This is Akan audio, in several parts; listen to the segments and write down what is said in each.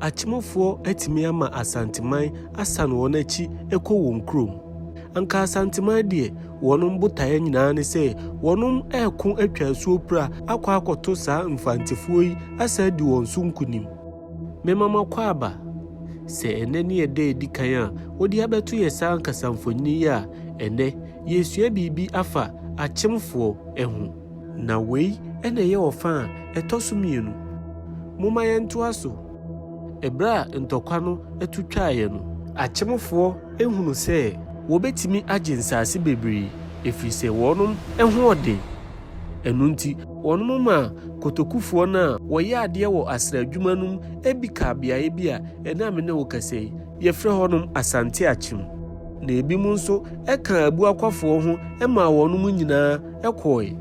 Akyemfoɔ atumi ama Asanteman asan wɔn akyi kɔ wɔn kurom. Anka Asanteman deɛ, wɔnom botaeɛ nyinaa ne sɛ wɔnom reko atwa asuo pira akɔ akɔto saa Mfantefoɔ yi asan adi wɔn so nkunim. Mema makɔ aba. Sɛ ɛnnɛ ne ɛda a ɛdi kan a wɔde abɛto yɛ saa ankasa mfonini yi a, ɛnnɛ, yɛresua biribi afa Akyemfoɔ ho. Na wei na ɛyɛ ɔfã a ɛtɔ so mmienu. Momma yɛntoa so. Ɛberɛ a ntɔkwa no tu twaeɛ no. Akyemfoɔ hunu sɛ wɔbɛtumi agye nsaase bebree, ɛfiri sɛ wɔnom hoɔden. Ɛno nti. Wɔnom maa kotokufoɔ no a wɔyɛ adeɛ wɔ asra adwuma no mu bi kaa beaeɛ bi a ɛnnɛ a me ne wo kasa yi, Yɛfrɛ hɔnom Asante-Akyem. Na ebinom nso kaa abuakwafoɔ ho maa wɔnom nyinaa kɔɔe.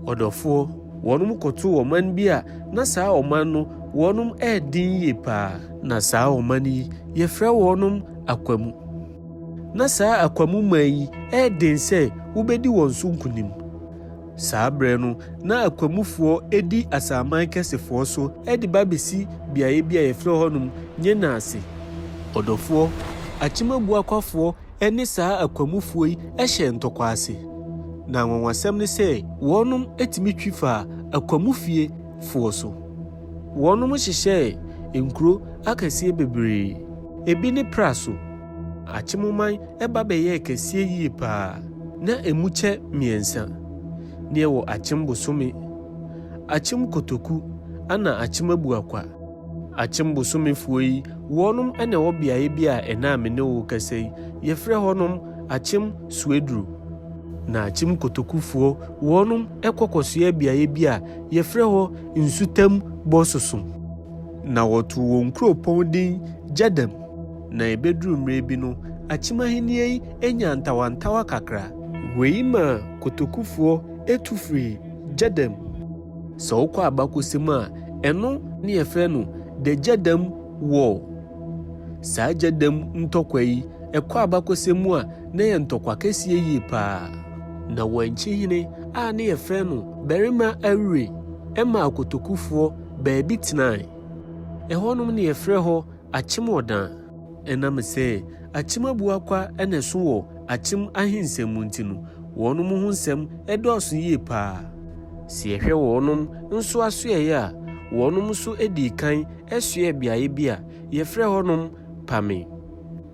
Ɔdɔfoɔ, wɔnom kɔtoo ɔman bi a na saa ɔman no wɔnom ɛɛden yie paa. Na saa ɔman yi, yɛfrɛ wɔnom Akwamu. Na saa Akwamu man yi ɛɛden sɛ wobɛdi wɔn so nkunim. Saa berɛ no, na Akwamufoɔ di Asaman Kɛsefoɔ so de ba bɛsi beaeɛ bi a yɛfrɛ hɔnom Nyena ase. Ɔdɔfoɔ, Akyem Abuakwafoɔ ne saa Akwamufoɔ yi hyɛɛ ntɔkwa ase. Na anwanwasɛm ne sɛ wɔnom tumi twi faa Akwamufie foɔ so. Wɔnom hyehyɛɛ nkuro akɛseɛ bebree. Ebi ne Praso. Akyemoman ba bɛyɛɛ kɛseɛ yie paa. Na ɛmu kyɛ mmiɛnsa ne ɛwɔ Akyem bosome, Akyem kotoku ana Akyem abuakwa. Akyem bosomefoɔ yi wɔnom na ɛwɔ beaeɛ bi a ɛnɛ a me ne wo rekasa yi yɛfrɛ hɔnom Akyem Suaduro. Na Akyem kotokufoɔ wɔnom kɔ kɔsoɛ beaeɛ bi a yɛfrɛ hɔ Nsutam Bososom. Na wɔtoo wɔn kuropɔn din Gyadam. Na ebeduru mmere bi no, akyim ahenni yi nyaa ntawantawa kakra. Wei maa kotokufoɔ tu firii Gyɛdɛm. Sɛ wokɔ abakɔsɛm a, ɛno. Ne yɛfrɛ no The Gyɛdɛm War. Saa Gyɛdɛm ntɔkwa yi, ɛkɔ abakɔsɛm mu a, na ɛyɛ ntɔkwa kɛseɛ yie paa. Na Wankye hene a ne yɛfrɛ no Barima Awire maa kotokufoɔ baabi tenae. Ɛhɔnom ne yɛfrɛ hɔ. akyem ɔdan. Ɛnam sɛ akyem abuakwa na ɛso wɔ akyem ahensɛm mu nti no, wɔnom ho nsɛm dɔɔso yie paa. Sɛ yɛhwɛ wɔnom nso asoɛeɛ a, wɔnom nso dii kan soɛɛ beaeɛ bi a yɛfrɛ hɔnom Pame.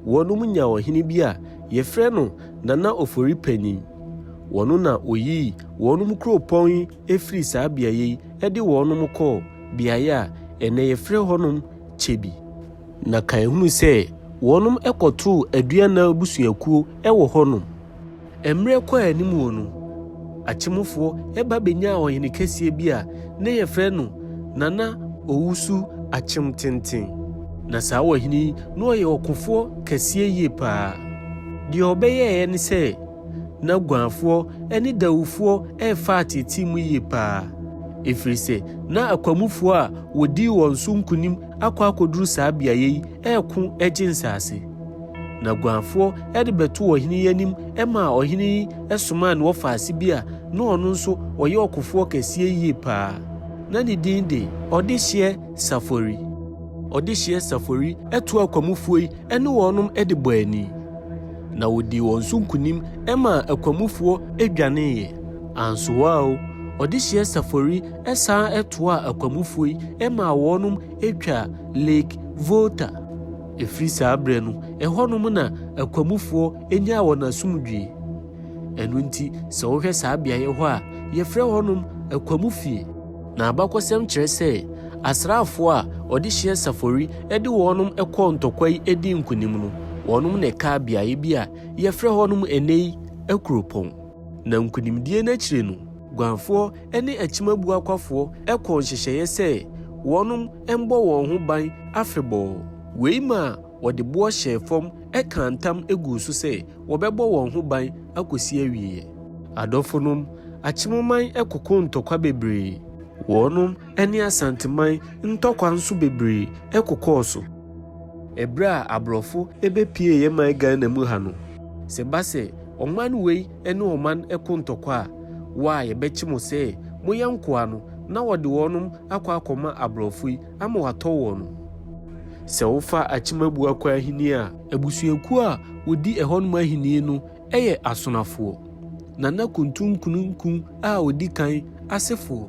Wɔnom nyaa ɔhene bi a yɛfrɛ no Nana Ofori Panyin. Ɔno na ɔyii wɔnom kuropɔn yi firii saa beaeɛ yi de wɔnom kɔɔ beaeɛ a ɛnnɛ yɛfrɛ hɔnom kyɛ bi. Na kan hunu sɛ wɔnom kɔtoo Aduana abusuakuo wɔ hɔnom. Mmerɛ kɔɔ anim wɔ no, Akyemofoɔ ba bɛnyaa ɔhene kɛseɛ bi a na yɛfrɛ no Nana Owusu Akyemtenten. Na saa ɔhene yi na ɔyɛ ɔkofoɔ kɛseɛ yie paa. Deɛ ɔbɛyɛeɛ ne sɛ. na guanfoɔ ne Dawufoɔ refa ateetee mu yie paa, ɛfiri sɛ na akwamufoɔ a wɔdii wɔn so nkonim akɔ akɔduru saa beaeɛ yi reko gye nsaase. Na guanfoɔ de bɛtoo ɔhene yi anim maa ɔhene yi somaa ne wɔfaase bi a na ɔno nso ɔyɛ ɔkofoɔ kɛseɛ yie paa, na ne din de Ɔdehyeɛ Safori. Ɔdehyeɛ Safori too akwamufoɔ yi ne wɔn de bɔɔ ani, na odii wɔn so nkonim maa akwamufoɔ dwaneeɛ. Ansoa o, ɔde hyeɛ safori san toaa akwamufoɔ yi maa wɔn twaa Lake Volta. Ɛfiri saa berɛ no, ɛhɔnom na akwamufoɔ nyaa wɔn asomdwoeɛ. Ɛno nti, sɛ wohwɛ saa beaeɛ hɔ a, yɛfrɛ hɔnom Akwamufie. Na abakɔsɛm kyerɛ sɛ asraafoɔ a ɔde hyeɛ safori de wɔnom kɔɔ ntɔkwa yi dii nkonim no, wɔnom na ɛkaa beaeɛ bi a yɛfrɛ hɔnom ɛnnɛ yi Akuropɔn. Na nkonimdie no akyire no, Guanfoɔ ne Akyimabuakwafoɔ kɔɔ nhyehyɛeɛ sɛ wɔnom mbɔ wɔn ho ban afebɔɔ. Wei maa Wɔde boɔ hyɛɛ fam kaa ntam guu so sɛ wɔbɛbɔ wɔn ho ban akɔsi awieɛ. Adɔfonom, Akyemoman kɔkɔɔ ntɔkwa bebree. Wɔnom ne Asanteman ntɔkwa nso bebree kɔkɔɔ so. Ɛberɛ a aborɔfo bɛpuee yɛ man Ghana mu ha no. Sɛ ɛba sɛ ɔman wei ne ɔman ko ntɔkwa a, wo a yɛbɛkye mo sɛ moyɛ nkoa no na wɔde wɔnom akɔ akɔma aborɔfo yi. Ama wɔatɔ wɔn no. Sɛ wofa Akyemabua kɔ Ahenni a. Abusuakuo a wɔdi ɛhɔnom Ahenni no yɛ Asonafoɔ, Nana Kuntunkununku a ɔdi kan asefoɔ.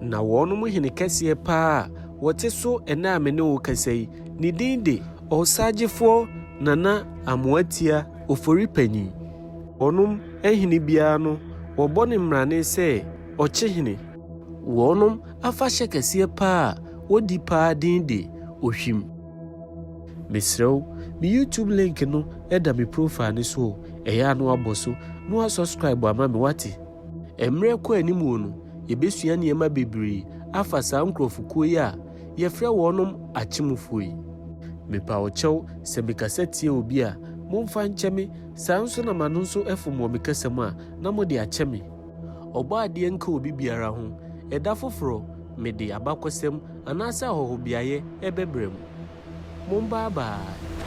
Na wɔnom hene kɛseɛ paa a wɔte so ɛnnɛ a me ne wo rekasa yi, ne din de. Ɔsagyefoɔ Nana Amoatia Oforipanyin. Wɔnom hene biara no, wɔbɔ no mmrane sɛ Ɔkyehene. Wɔnom Afahyɛ kɛseɛ paa a wɔdi paa din de Ohwim. Mesrɛ wo, me YouTube link no da me profile no so o, ɛyɛ a na wabɔ so na wa subscribe ama me wate? Mmerɛ kɔ anim o no, yɛbɛsua nneɛma bebree afa saa nkorɔfokuo yi a yɛfrɛ wɔnom Akyemufoɔ yi. Mepa wo kyɛw sɛ me kasa tia obi a, momfa nkyɛ me, saa nso na m'ano nso fom wɔ me kasa mu a, na mode akyɛ me. Ɔbɔadeɛ nka obi biara ho. Ɛda foforɔ, mede abakɔsɛm anaasɛ ahɔhobeaeɛ rebɛbrɛ mo. Mombaabae!